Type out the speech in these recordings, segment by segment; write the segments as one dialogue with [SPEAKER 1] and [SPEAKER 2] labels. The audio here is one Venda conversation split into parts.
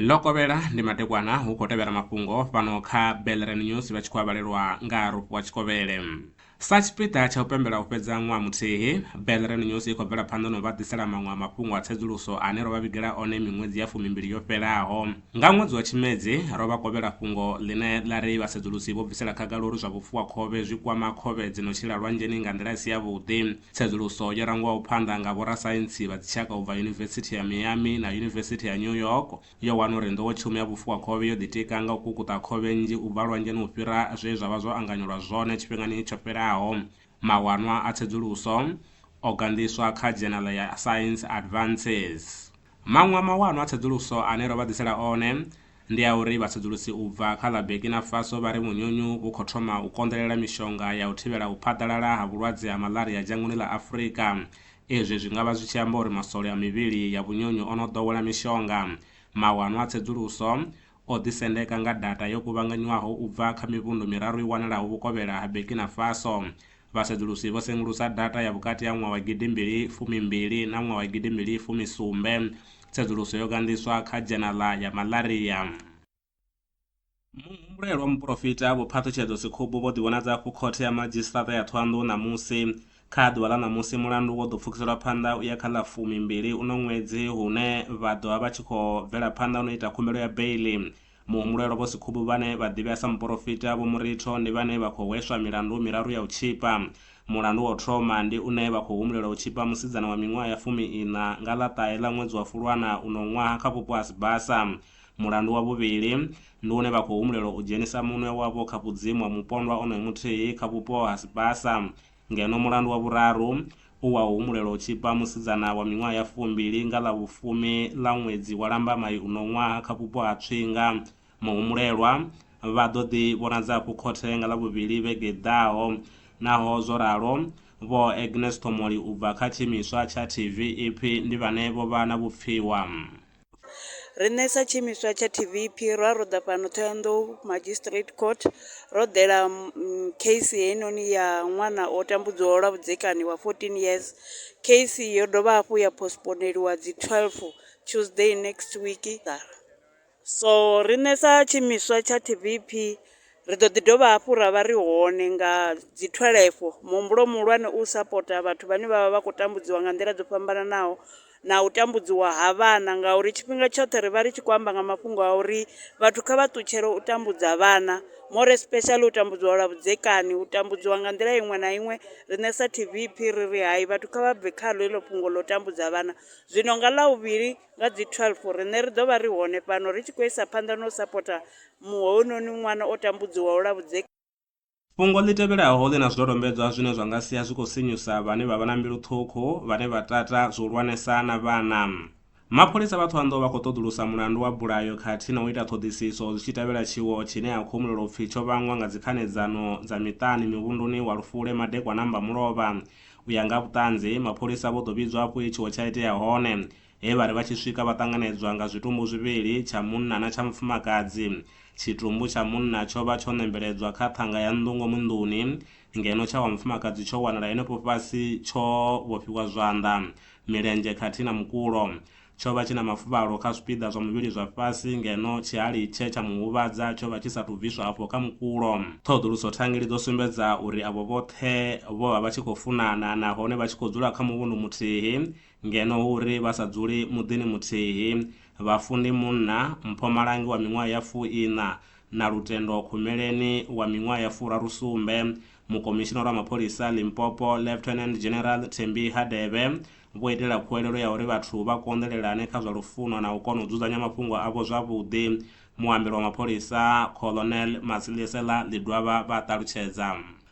[SPEAKER 1] ḽo kovhela ndi matekwana hu khou tevhela mafhungo fhano kha belren news vha tshi khou avhalelwa nga rufhu wa tshikovhele sa tshipiḓa tsha u pembela u fhedza ṅwaha muthihi belren news i khou bvela phanḓa na u vha ḓisela maṅwe a mafhungo a tsedzuluso ane ro vha vhigela one miṅwedzi ya fumimbili yo fhelaho Nga ṅwedzi wa Tshimedzi, ro vha kovhela fhungo ḽine ḽa ri vhasedzulusi vho bvisela khagala uri zwa vhufuwakhovhe zwi kwama khovhe dzi no tshila lwanzheni nga nḓila i si yavhuḓi. Tsedzuluso yo rangwaho phanḓa nga vhorasaintsi vha dzitshaka u bva Yunivesithi ya Miami na Yunivesithi ya New York yo wana uri nḓowetshumo ya vhufuwakhovhe yo ḓitika nga u kukuṱa khovhe nnzhi u bva lwanzheni u fhira zwe zwa vha zwo anganyelwa zwone tshifhingani tsho fhelaho. Mawanwa a tsedzuluso o ganḓiswa kha dzhenala ya Science Advances. Maṅwe a mawanwa a tsedzuluso ane ro vha ḓisela one ndi a uri vhatsedzulusi u bva kha ḽa Burkina Faso vha ri munyunyu vhu khou thoma u konḓelela mishonga ya u thivhela u phaḓalala ha vhulwadze ha malaria dzhangoni ḽa Afrika. Izwi zwi nga vha zwi tshi amba uri maswole a mivhili ya vhunyunyu o no ḓowela mishonga. Mawanwa a tsedzuluso o ḓisendeka nga data yo kuvhanganywaho u bva kha mivhundu miraru i wanalaho vhukovhela ha Burkina Faso. Vhasedzulusi vho sengulusa data ya vhukati ha ṅwaha wa gidi mbili fumi mbili na ṅwaha wa gidi mbili fumi sumbe. Tsedzuluso yo ganḓiswa kha dzhenaḽa ya Malaria. Muhumbulelwa muporofita Vho Phaṱhutshedzo Sekhubu vho ḓivhonadza hafhu Khothe ya Madzhisiṱaṱa ya Thohoyandou ṋamusi. Kha ḓuvha ḽa ṋamusi mulandu wo ḓo pfukiselwa phanḓa u ya kha ḽa fumi mbili uno ṅwedzi hune vha ḓovha vha tshi khou bvela phanḓa uno ita khumbelo ya beiḽi. Muhumbulelwa Vho Sikhubu vhane vha ḓivhea sa muporofita Vho Muritho ndi vhane vha khou hweswa milandu miraru ya u tzhipa. Mulandu wa u thoma ndi une vha khou humbulelwa u tzhipa musidzana wa miṅwaha ya fumi iṋa nga ḽa ṱahe ḽa ṅwedzi wa Fulwana uno ṅwaha kha vhupo ha Sibasa. Mulandu wa vhuvhili ndi une vha khou humbulelwa u dzhenisa munwe wavho kha vhudzimu ha mupondwa onoyo muthihi kha vhupo ha Sibasa. Ngeno mulandu wa vhuraru u wa u humbulela u tzhipa musidzana wa miṅwaha ya fumbili nga ḽa vhufumi ḽa ṅwedzi wa Lambamai uno ṅwaha kha vhupo ha Tswinga. Muhumbulelwa vha ḓo ḓi vhonadza hafhu khothe nga Ḽavhuvhili vhege i ḓaho. Naho zwo ralo, Vho Agnes Ṱhomoli u bva kha tshiimiswa tsha TV ipfi ndi vhane vho vha na vhupfiwa.
[SPEAKER 2] Riṋe sa tshiimiswa tsha TVEP ro ya ra ḓa fhano Ṱhohoyanḓou Magistrate Court ro ḓela case heinoni ya ṅwana o tambudzwaho lwa vhudzekani wa fourteen years, case yo dovha hafhu ya postponeliwa dzi thweḽufu Tuesday next week. So riṋe sa tshiimiswa tsha TVEP ri ḓo ḓi dovha hafhu ra vha ri hone nga dzi thwelefho muhumbulo muhulwane u sapota vhathu vhane vha vha vha khou tambudziwa nga nḓila dzo fhambananaho, na u tambudziwa ha vhana ngauri tshifhinga tshoṱhe ri vha ri tshi khou amba nga mafhungo a uri vhathu kha vha ṱutshele u tambudza vhana more especially u tambudziwa lwa vhudzekani, u tambudziwa nga nḓila iṅwe na iṅwe. Riṋe sa TVP ri ri hai vhathu kha vha bve khaḽo heḽo fhungo ḽo tambudza vhana, zwino nga Ḽavhuvhili nga dzi 12 riṋe ri ḓo vha ri hone fhano ri tshi khou isa phanḓa na u sapotha hounoni ṅwana o tambudziwaho lwa vhudzekani. Fhungo ḽi
[SPEAKER 1] tevhelaho ḽi na zwidodombedzwa zwine zwa nga sia zwi khou sinyusa vhane vha vha na mbilu ṱhukhu vhane vha tata zwihulwanesa na vhana. Mapholisa vha Thohoyandou vha khou ṱoḓulusa mulandu wa bulayo khathihi na u ita ṱhoḓisiso zwi tshi tevhela tshiwo tshine ha khou humbulelwa u pfi tsho vhangwa nga dzikhanedzano dza miṱani muvhunduni wa Lufule madekwana Mbamulovha. U ya nga ha vhuṱanzi, mapholisa vho ḓo vhidzwa afho he tshiwo tsha itea hone. He vha ri vha tshi swika vha ṱanganedzwa nga zwitumbu zwivhili, tsha munna na tsha mufumakadzi. Tshitumbu tsha munna tsho vha tsho nembeledzwa kha ṱhanga ya nnḓu ngomu nḓuni, ngeno tsha wa mufumakadzi tsho wanala henefho fhasi tsho vhofhiwa zwanḓa, milenzhe khathihi na mukulo. Tsho vha tshi na mafuvhalo kha zwipiḓa zwa muvhili zwa fhasi, ngeno tshihali tshe tsha mu huvhadza tsho vha tshi sa tou bviswa afho kha mukulo. Ṱhoḓuluso thangeli dzo sumbedza uri avho vhoṱhe vho vha vha tshi khou funana nahone vha tshi khou dzula kha muvhundu muthihi. Ngeno hu ri vha sa dzuli muḓini muthihi, Vhafundi Munna, Mpho Malangi wa miṅwaha ya fu-iṋa na Lutendo Khumeleni wa miṅwaha ya furaru-sumbe, Mukomishinara wa Mapholisa Limpopo Lieutenant General Thembi Hadebe vho itela khuwelelo ya uri vhathu vha konḓelelane kha zwa lufuno na u kona u dzudzanya mafhungo avho zwavhuḓi. Muambeli wa mapholisa Colonel Matsiliesela Ledwaba vha ṱalutshedza.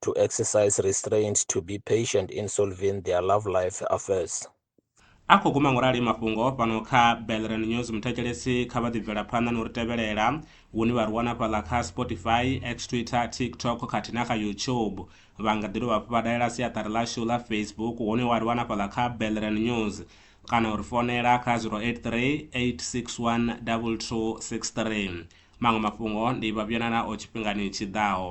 [SPEAKER 3] to exercise restraint to be patient in solving their love life affairs a
[SPEAKER 1] khou guma ngorali mafhungo fhano kha belran news muthetshelesi kha vha ḓibvela phanḓa na u ri tevhelela hune vha ri wana fhaḽa kha spotify x twitter tiktok khathihi na kha youtube vha nga ḓi dovha hafhu vha dalela siaṱari ḽashu ḽa facebook hune wa ri wana fhaḽa kha belran news kana u ri fonela kha 083 861 2263 maṅwe mafhungo ndi vhavhuyana nao tshifhingani tshiḓaho